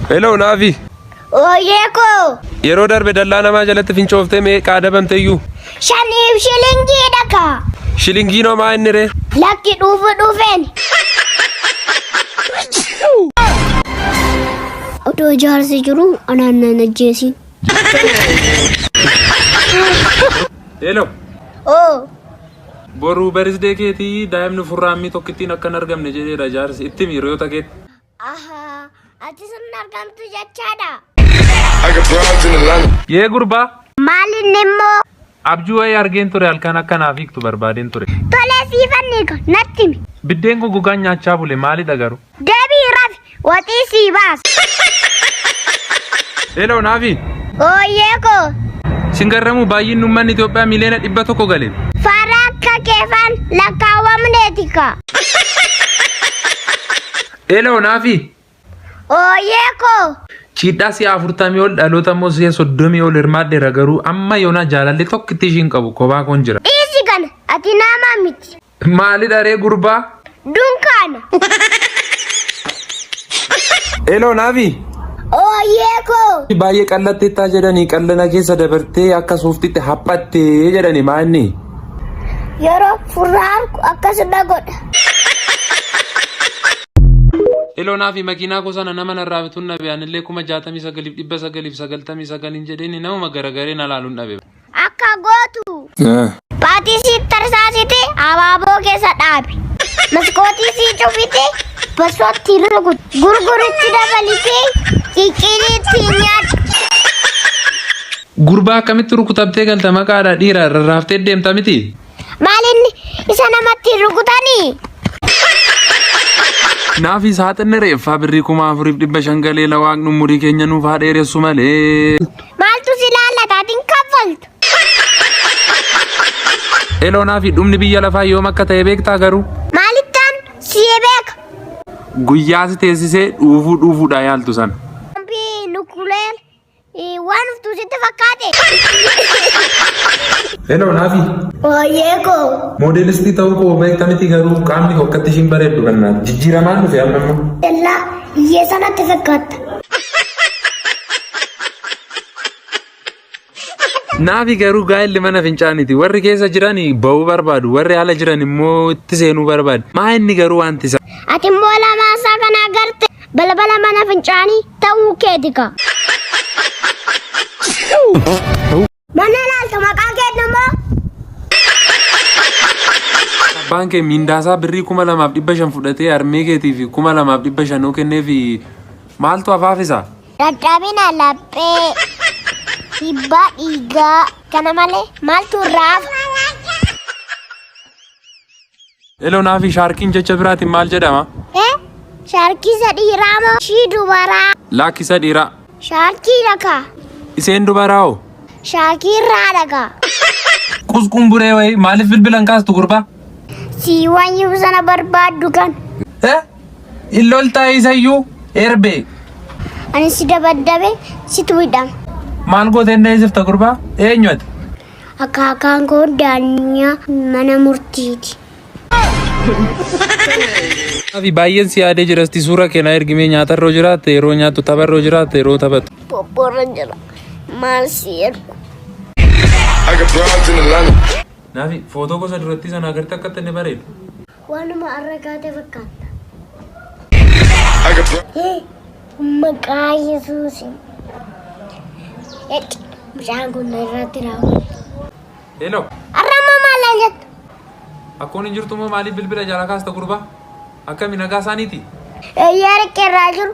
Hello Naafi. Ooyee koo. Yeroo darbe dallaa namaa jalatti fincooftee meeqa adabamteyyuu? Shaniif shilingii dhaka. Shilingii nomaa inni ree? Lakki dhuufu dhuufeen. Odoo jaarsi jiru anaan nan ajjeesiin. Hello. Oo. Boruu barisdee keetii daa'imni furraammii tokkittiin akka hin argamne jedheera jaarsi itti miiriyoota keetti. Ahaa, ati sun argamtu jechaadha. I got broads in Atlanta. Yee gurbaa Maal inni immoo? abjuu wayii argeen ture halkan akka naaf hiiktu barbaadeen ture. Tolee siifan hiika, natti himi. Biddeen goggogaan nyaachaa bule maalidha garuu? Deebii rafi, waxii sii baasa. Hello Naafi. Ooyyee koo, Sin garramuu baay'inni uummanni Itoophiyaa miliyoona dhibba tokko gale. faara akka keefan lakkaawwamneeti kaa. Eloo naafi. Ooyee koo. Chiidhaa si'a afurtamii ol dhaloota immoo si'a soddomii ol hirmaadheera garuu amma yoonaa jaalalli tokkitti ishiin qabu kophaa koon jira. Dhiisi kana ati naamaa miti. Maali dharee gurbaa? Dunkaana. Eloo naafi. Ooyee koo. Baay'ee qallatteettaa jedhanii qallana keessa dabartee akka suuftitti haphattee jedhani maanni. Yeroo furraa argu akkas na godha. Eloonaa fi makiinaa koo sana nama narraa bituun dhabe anillee kuma jaatamii sagaliif dhibba sagaliif sagaltamii sagaliin jedheen namuma garagaree na laaluun dhabe. Akka gootu. Baatii sii tarsaasite abaaboo keessa dhaabi. Maskootii sii cufite basootti rukuti. Gurguritti dabalite qiqqiliitti nyaadhu. Gurbaa akkamitti rukutamtee galta maqaadha dhiira rarraaftee deemta miti. Maalin isa namatti hin rukutanii? Naafi saaxinni reeffaa birrii kuma afuriif dhibba shan galee lawaaqni umurii keenya nuuf haa dheeressu malee. Maaltu si laallata ati hin kaffaltu? Eloo naafi dhumni biyya lafaa yoom akka ta'e beektaa garuu. Maalittaan si'ee beeka? Guyyaa si teessisee dhuufuu dhuufuudhaa yaaltu sana. Ambii nukkuleen Ii, Waan dhuftuu sitti fakkaate. Hello Naafi. Ooyyee koo. Moodeelistii ta'uu koo beekta miti garuu qaamni koo akkatti ishiin bareeddu kannaa jijjiiramaan dhufe amma immoo. Dallaa hiyyeessaa natti fakkaatta. Naafi garuu gaa'elli mana fincaaniti warri keessa jiran ba'uu barbaadu warri ala jiran immoo itti seenuu barbaadu maa inni garuu wanti isaa. Ati immoo lamaan isaa kana agarte balbala mana fincaanii. Ta'uu keeti kaa. Mana ilaaltu maqaa keetti immoo. Abbaan kee miindaasaa birrii kuma lamaaf dhibba shan fudhatee harmee keetiif kuma lamaaf dhibba shan yoo kenneef maaltu hafaafisa? Dadhabina laphee. Dhibbaa dhiigaa. Kana malee maaltu irraa hafa? Eloonaa fi shaarkiin jecha biraatiin maal jedhama? E. Shaarkisa dhiiraa moo ishii dubaraa? Laakkisa dhiiraa. Shaarkii dhakaa. Iseen dubaraa hoo? Shaakirraa dhakaa. Qusqumburee wayii maaliif bilbilan kaastu gurbaa? Sii wanyuu sana barbaaddu kan. E. Illoltaa isayyuu erbee. Ani si dabaddabe situ hidhama. Maal gootee hin dheessifta gurbaa? Eenyu ati? Akaakaan koo daanyaa mana murtiiti. Afi baay'een si yaadee jira itti suuraa keenaa ergimee nyaatarroo jiraatte yeroo nyaattu tapharroo jiraatte yeroo taphattu. Bobboorra jira. Maal si ergu? Naafi footoo gosa durattii sana agartee akka inni bareedu. Waanuma arra kaate fakkaatta. Hii, Maqaa Yesuusiin. Ecci, Mucaan kun na irratti raawwate. Hello. Arra amma maal naan jettu? Akkoon hin jirtu moo maaliif bilbila jala kaasta gurbaa? Akkami nagaa isaaniiti? Eeyyee riqqee irraa jiru.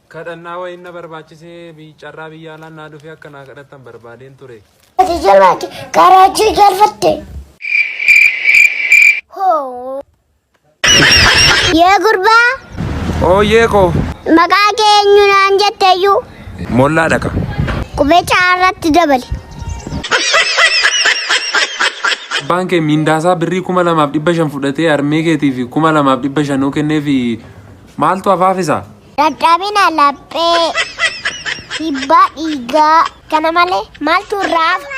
Kadhannaa wayiin na barbaachisee biy- carraa biyya alaan naa dhufee akka naa kadhattan barbaadeen ture. Ati jabaate karaa achii galfatte. Hoo. Yaa gurbaa Ooyyee koo maqaa kee eenyu naan jetteeyyuu mollaa dhaqa. qubee caarratti dabali. Abbaan kee miindaasaa birrii kuma lamaaf dhibba shan fudhatee harmee keetiif kuma lamaaf dhibba shanuu kenneefi maaltu hafaafisa? Dadhabina laphee, dhiibbaa dhiigaa. Kana malee maaltu irraa hafa?